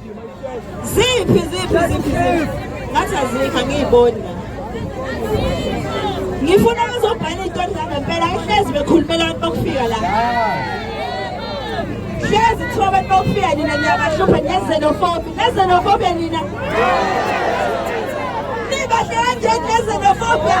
Ziphi ziphi ziphi ngathi azikho angiyiboni ngifuna bazobhala iy'tori zangempela ayihlezi bekhulumela abantu bokufika la hlezi kuthiwa abantu bokufika nina niyabahlupha nezenofobi nezenofobia nina nibahle kanjeni nezenofobia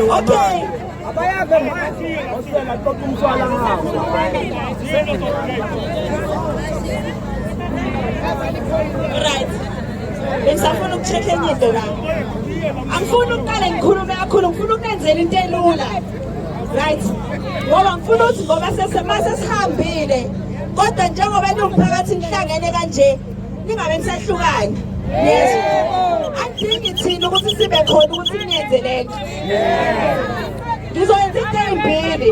Okay. Abayake manje. Osela qoqa umswala ngawo. Right. Bengisafuna ukucheck enye into la. Angifuni ukuqale ngikhulume kakhulu, ngifuna ukunenzela into elula. Right. Ngoba ngifuna ukuthi ngoba sesema sesihambile. Kodwa njengoba niwumphakathi nihlangene kanje Ningabe nisehlukana. Yebo. Angidingi thina ukuthi sibe khona ukuthi ningenze lento. Ngizoyenza into eyimbili.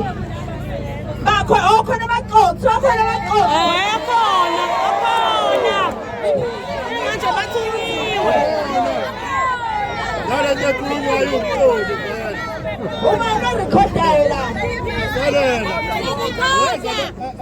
Bakho okhona abaqothi, okhona abaqothi. Akhona, akhona. Manje bathuliwe. Lala nje kulo ayuqothi. Uma ngirekhodayo la. Lala. Ngikhoda.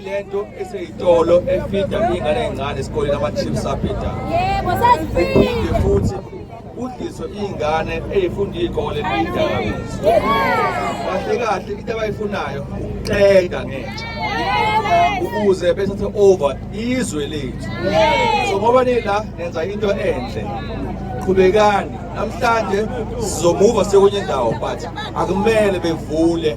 lento eseyitolo efida ingane encane esikoleni ama-chips abhida yebo sasifike futhi kudliswe iy'ngane ey'funda iy'kole ney'dakamizwa kahle kahle into abayifunayo ukuxega ngentsha ukuze bethathe over izwe lethu so ngoba nila nenza into enhle qhubekani namhlanje sizomuva sekunye indawo but akumele bevule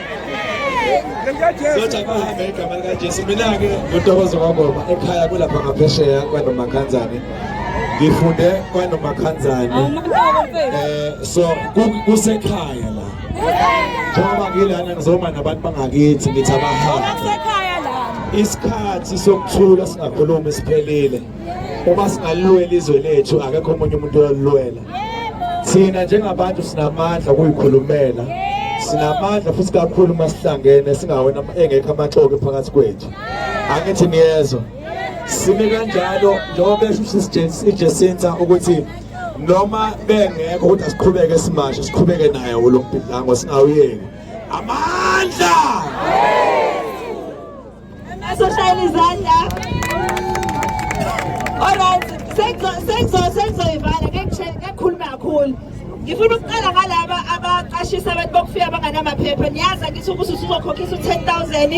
Soja bahambe igama likaJesu mina-ke uNtokozo kaBoba ekhaya kulapha ngaphesheya kwanomakhanzane ngifunde kwanomakhanzane um eh, so kusekhaya la njengoba ngilana ngizoma nabantu bangakithi ngithi abahambe isikhathi sokuthula singakhulumi siphelile uma singalilwela izwe lethu akekho omunye umuntu oyolilwela thina njengabantu sinamandla okuyikhulumela sinamandla futhi kakhulu uma sihlangene singawena engekho amaxoki phakathi kwethu angithi niyezwa sime kanjalo njengoba besho usijesinta ukuthi noma bengekho ukuthi asiqhubeke simashe siqhubeke naye lo mbhidlango singawuyeki amandla Soshayela izandla. Alright, sengizoyivala ngekukhuluma kakhulu. Ngifuna ukuqala ngalaba abaqashisa abantu bokufika abanganamaphepha. Niyazi angithi ukuthi usuzokhokhisa u-10000.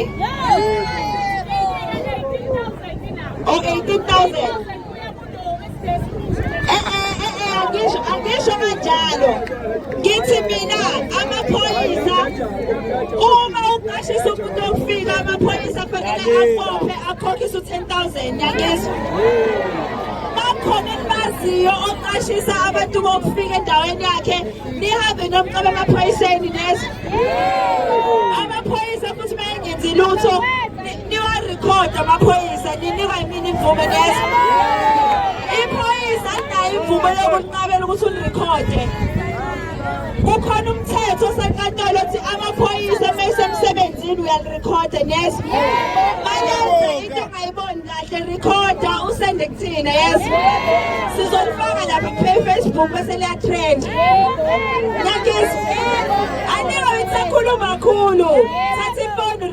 Oh 18000. angisho kanjalo ngithi mina amaphoyisa uma uqashisa umuntu okufika amaphoyisa fanele akhophe akhokhise u-10000 yangizwa bakhona enibaziyo oqashisa abantu bokufika endaweni yakhe nihambe nomcaba amaphoyiseni nezwa amaphoyisa futhi uma engenzi lutho Niwarekhode amaphoyisa ninikwa imini imvume neza. Iphoyisa alinayo imvume yokunqabela ukuthi unirekhode. Kukhona umthetho osenkantolo othi amaphoyisa uma esemsebenzini uyalirekhode neza. Manje into ongayiboni kahle recorda usende kuthina yes. Sizolifaka lapha ku-Facebook bese liyatrend. Nyakizi. Anike ngisakhuluma kakhulu.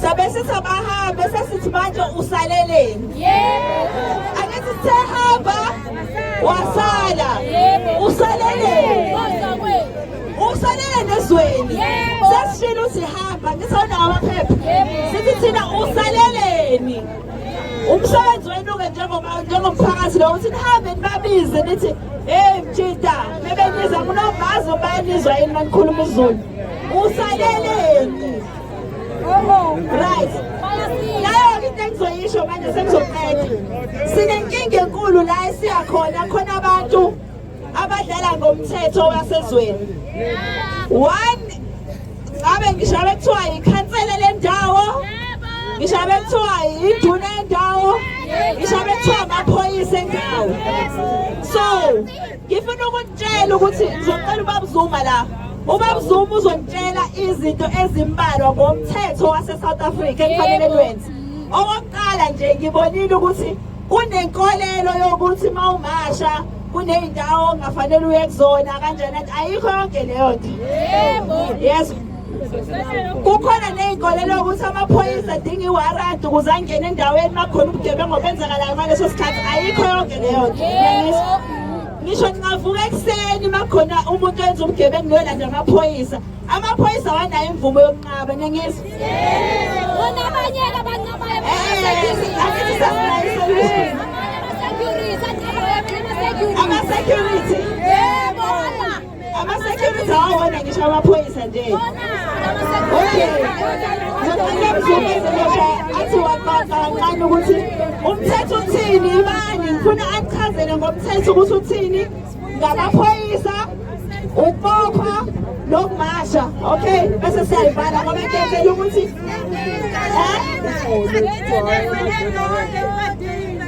sabe sithi abahambe sesithi manje usaleleni angithi sehamba wasala usaleleni usaleleni ezweni sesishilo ukuthi hamba ngithi awunawo amaphepha sithi thina usaleleni umsebenzi wenu-ke njengomphakathi lo ukuthi nihambe nibabize nithi heyi mjita mebeniza kunovazi ubanizwa yini manikhuluma izulu usaleleni Oh, right. Layo into engizoyisho manje sengizoqeda. Sinenkinga enkulu la esiya khona khona abantu abadlala ngomthetho wasezweni. One ngabe ngisho abekuthiwa yikhansela lendawo. Ngisho abekuthiwa yinduna yendawo. Ngisho abekuthiwa amaphoyisa endawo. So ngifuna ukutshela ukuthi ngizocela ubaba Zuma la ubaba Zuma uzongitshela izinto ezimbalwa ngomthetho wase-south africa ekufanele kwenze okokuqala nje ngibonile ukuthi kunenkolelo yokuthi uma umasha kuney'ndawo ongafanele uye kuzona kanjani ayikho yonke leyo nto yes kukhona ney'nkolelo ukuthi amaphoyisa adinga iwaradi ukuze angene endaweni makhona ubugebengu obenzakalayo ngaleso sikhathi ayikho yonke leyo ngisho ningavuka ekuseni makhona umuntu oyenza ubugebengu niyolanda amaphoyisa amaphoyisa awanayo imvumo yokunqaba nengizwa ama-security Ama-security awona ngisho amaphoyisa nje. Okay. Ngicela mzumeze ngisho athi waqaqa kancane ukuthi umthetho uthini ibani ngifuna achazele ngomthetho ukuthi uthini ngamaphoyisa ukupopha nokumasha okay bese siyayivala ngoba ngiyenzela ukuthi eh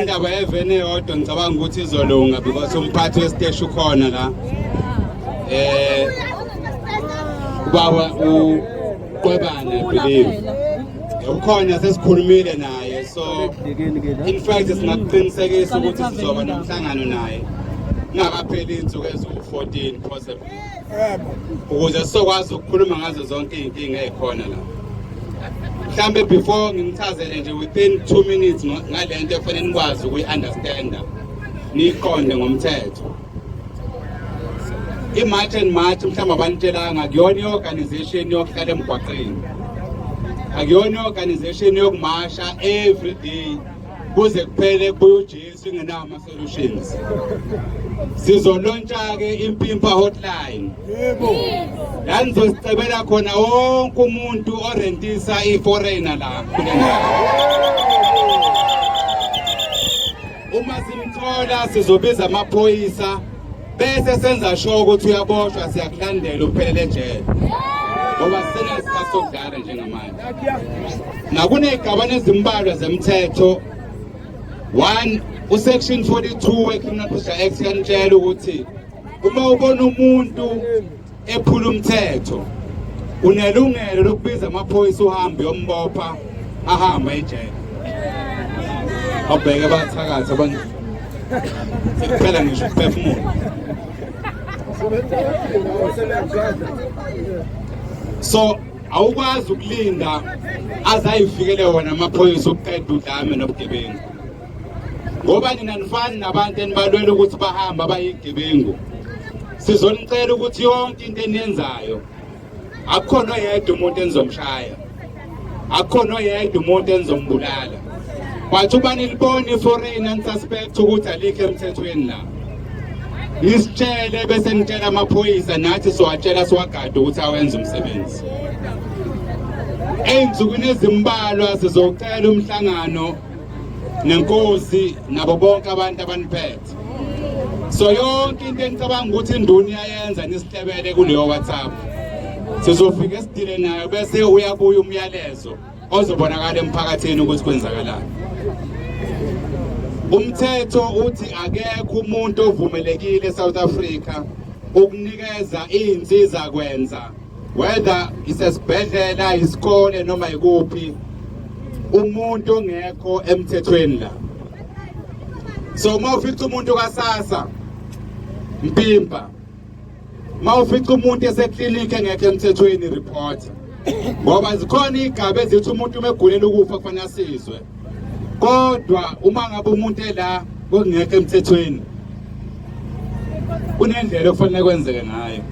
indaba yeveni eyodwa ngicabanga ukuthi izolunga because umphathi wesiteshi ukhona la eh ubaba uqwebane believe ukhona sesikhulumile naye so in fact singakuqinisekisa ukuthi sizoba nomhlangano naye ingakapheli insuku eziwu-14 possible ukuze sizokwazi ukukhuluma ngazo zonke iy'nkinga ey'khona la mhlawumbe before ngimchazele nje within two minutes ngale nto efanele nikwazi ukuyi-understanda niyiqonde ngomthetho i-march and march mhlawumbe abanitshelanga kuyona i-organization yokuhlala emgwaqeni akuyona i-organization yokumasha every day kuze kuphele kubuye ujesu ingenawo Solutions. Sizolontsha ke impimpa hotline. Yebo. La nizosicebela khona wonke umuntu orentisa iforeigner la. Uma simthola sizobiza amaphoyisa bese senza sure ukuthi uyaboshwa siyakulandela uphelele ejele. Ngoba sena sikasodlala njengamanje. Nakunezigabane ezimbalwa zemthetho 1 usection 42 weCriminal Procedure Act yanitshela ukuthi uma ubona umuntu ephula umthetho unelungelo lokubiza amaphoyisa uhambe yombopha ahamba ejele abheke bathakatha abantu phela ngisho ukuphefumula so awukwazi ukulinda azayifikele wona amaphoyisa ukuqeda udlame nobugebengu ngoba nina nifani nabantu enibalwela ukuthi bahambe abayigebengu sizonicela ukuthi yonke into eniyenzayo akukhona oyedwa umuntu enizomshaya akukhona oyedwa umuntu enizombulala but uba nilibona iforeign anisuspect ukuthi alikho emthethweni la nisitshele bese nitshela amaphoyisa nathi siwatshela siwagade ukuthi awenze umsebenzi ey'nsukwini ezimbalwa sizocela umhlangano nenkosi nabo bonke abantu abaniphethe so yonke into enicabanga ukuthi induna iyayenza nisihlebele kuleyo whatsapp sizofike sidile nayo bese uyabuya umyalezo ozobonakala emphakathini ukuthi kwenzakalani umthetho uthi akekho umuntu ovumelekile eSouth Africa ukunikeza izinsiza kwenza whether isesibhedlela isikole noma ikuphi umuntu ongekho emthethweni la so uma ufica umuntu kasasa mpimpa uma ufica umuntu eseklinikhi engekho emthethweni report ngoba zikhona iy'gaba ezithi umuntu uma egulela ukufa kufanele asizwe kodwa uma ngabe umuntu ela kokungekho emthethweni kunendlela okufanele kwenzeke ngayo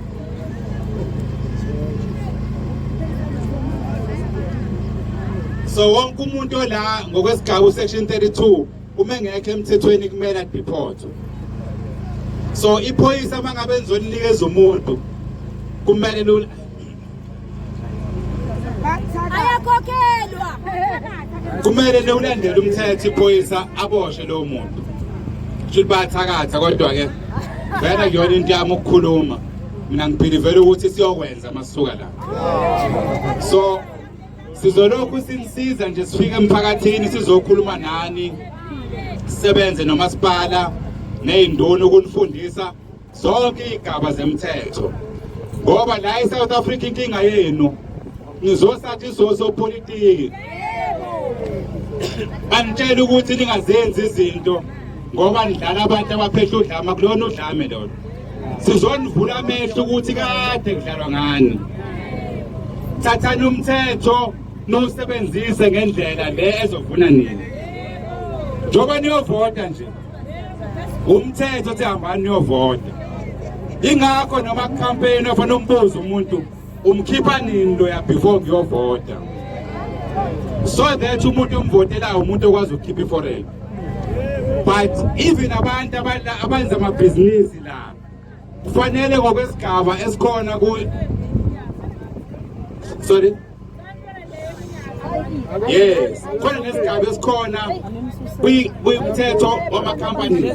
so wonke umuntu ola ngokwesigaba usection 32 uma engekho emthethweni kumele adephothwe so iphoyisa uma ngabe nizolinikeza umuntu kumele lula ayakhokhelwa kumele lewulandele umthetho iphoyisa aboshe lowo muntu shuthi bayathakatha kodwa-ke vele kuyona into yami ukukhuluma mina ngiphilivele ukuthi siyokwenza masuka la so sizolokhu sinisiza nje sifike emphakathini sizokhuluma nani sisebenze nomasipala ney'nduna ukunifundisa zonke iy'gaba zemthetho ngoba la e-south africa inkinga yenu nizosathi sosopolitiki banitshela ukuthi ningazenzi izinto ngoba nidlala abantu abaphehla udlama kulona udlame lona sizonivula amehlo ukuthi kade kudlalwa ngani thathani umthetho nowusebenzise ngendlela le ezovuna nini njengoba niyovota nje umthetho uthi hambani niyovota ingakho noma campaign ofana umbuzo umuntu umkhipha nini loya before kuyovota so that umuntu omvotelayo umuntu okwazi ukukhipha iforel but even abantu abenza amabhizinisi la kufanele ngokwesigaba esikhona ku sorry yes khona nesigaba esikhona kuyimthetho wamakhampani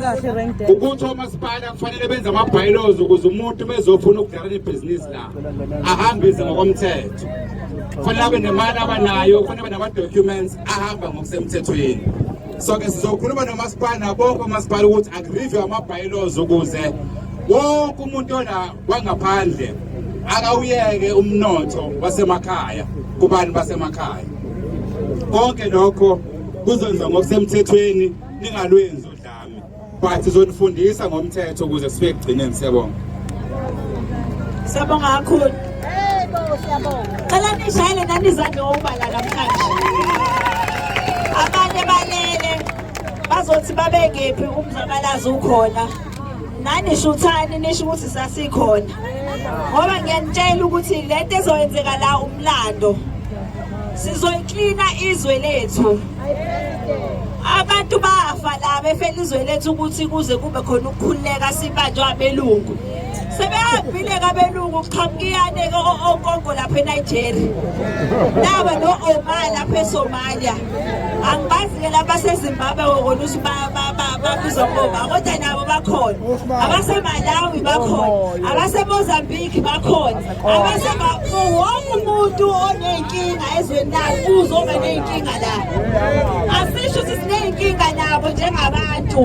ukuthi omasipala kufanele benze ama-bylaws ukuze umuntu bezofuna ukudlala ibhizinisi la ahambise ngokomthetho kufanele abe nemali abanayo kufanele abe nama-documents ahamba ngokusemthethweni so ke sizokhuluma nomasipala nabonke omasipala ukuthi agrivye ama-bylaws ukuze wonke umuntu ona kwangaphandle akawuyeke umnotho wasemakhaya kubantu basemakhaya konke lokho kuzonza ngokusemthethweni ningalwenzi udlame but zonifundisa ngomthetho ukuze sibe kugcineni siyabonga siyabonga kakhulu cela nishayele nanizadle ngokubala namhlanje abanye balele bazothi babekephi umzabalazi ukhona nani shuthani nisho ukuthi sasikhona ngoba ngiyanitshela ukuthi le nto ezoyenzeka la umlando sizoyiklina izwe lethu abantu bafa la befela izwe lethu ukuthi kuze kube khona ukukhululeka sibanjwa abelungu sebehambile kabelungu kuqhamukiyane okongo lapha enigeria naba no-oma lapha esomalia angibazi-ke laba basezimbabwe kokona ukuthi babizwa ngoba kodwa nabo bakhona abasemalawi bakhona oh, abasemozambique bakhona wonke umuntu oney'nkinga ezweni lakhe uzoba ney'nkinga la asisho ukuthi siney'nkinga nabo njengabantu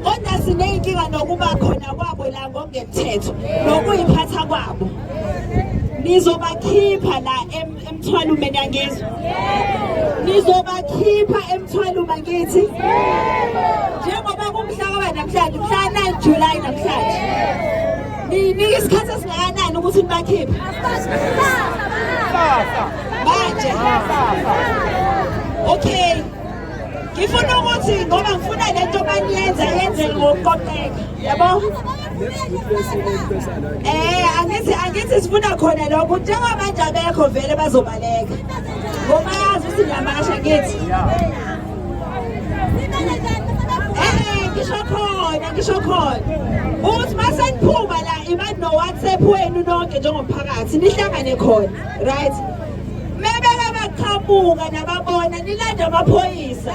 kodwa siney'nkinga nokuba khona kwabo la ngokungemthetho nokuyiphatha kwabo nizobakhipha la Emthwalo mina ngizwe. Nizobakhipha emthwalo mangithi. Njengoba kumhlaka namhlanje, mhla 9 July namhlanje. Nini isikhathi esingakanani ukuthi nibakhiphe? Manje. Okay. Ngifuna ukuthi ngoba ngifuna lento maniyenza yenze ngokuqoqeka. Yabo? Eh angithi angithi sifuna khona lokho njengoba abantu abekho vele bazobaleka. Ngoba yazi ukuthi ngiyamasha ngithi. Eh ngisho khona ngisho khona. Uthi mase niphuma la imani no WhatsApp wenu nonke njengomphakathi nihlangane khona. Right? Mebeka baqhamuka nababona nilanda amaphoyisa.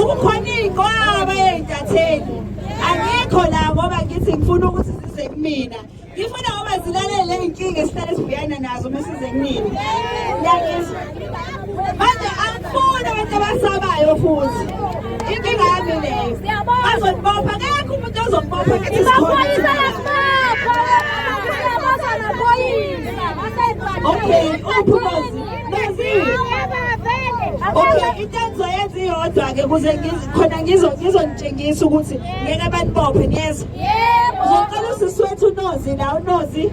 ukukhona iy'nqwaba ey'ntatheni angikho la ngoba ngithi ngifuna ukuthi zize kumina ngifuna ngoba zilalele ley'nkinga esihlale sibhekana nazo uma size kunini manje angifuni abantu abasabayo futhi inkinga yami leyo bazonibopha kekho umuntu ozonibopha kithi amaphoyisa ayasibopha siyabaza amaphoyisa okay uphumozi Okay into engizoyenza iyodwa ke kuze khona ngizo ngizonitshengisa ukuthi ngeke banibophe niyezwa. Yebo. Uzocela usisi wethu uNozi la uNozi.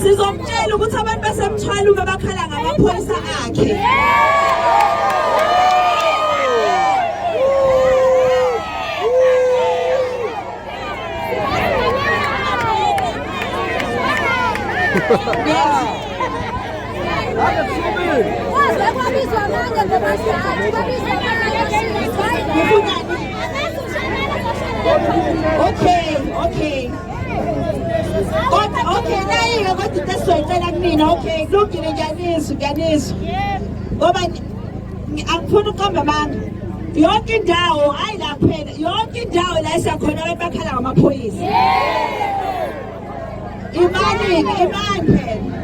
sizomtshela ukuthi abantu basemthwala uma bakhala ngamaphoyisa akhe Okay, okay. okay nayiyo kodwa into esizoyicela kumina okay kulungile ngiyanizwa ngiyanizwa ngoba angifuni uqamba amanga yonke indawo hayi la kuphela yonke indawo la esakhona abantu bakhala ngamaphoyisa imali imali phela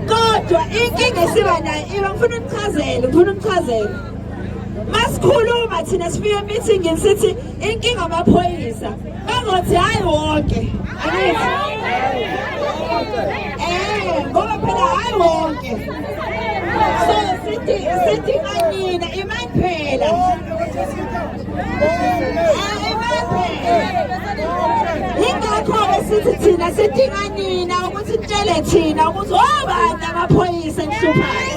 kodwa inkinga esiba nayo iba ngifuna unichazele ngifuna unichazele masikhuluma thina sifike emeetingini sithi inkinga amaphoyisa Engothi hayi wonke. Eh, ngoba phela hayi wonke. So sithi sithi kanina imani phela. Yingakho-ke sithi thina sidinga nina ukuthi nitshele thina ukuthi obani amaphoyisa enhluphayo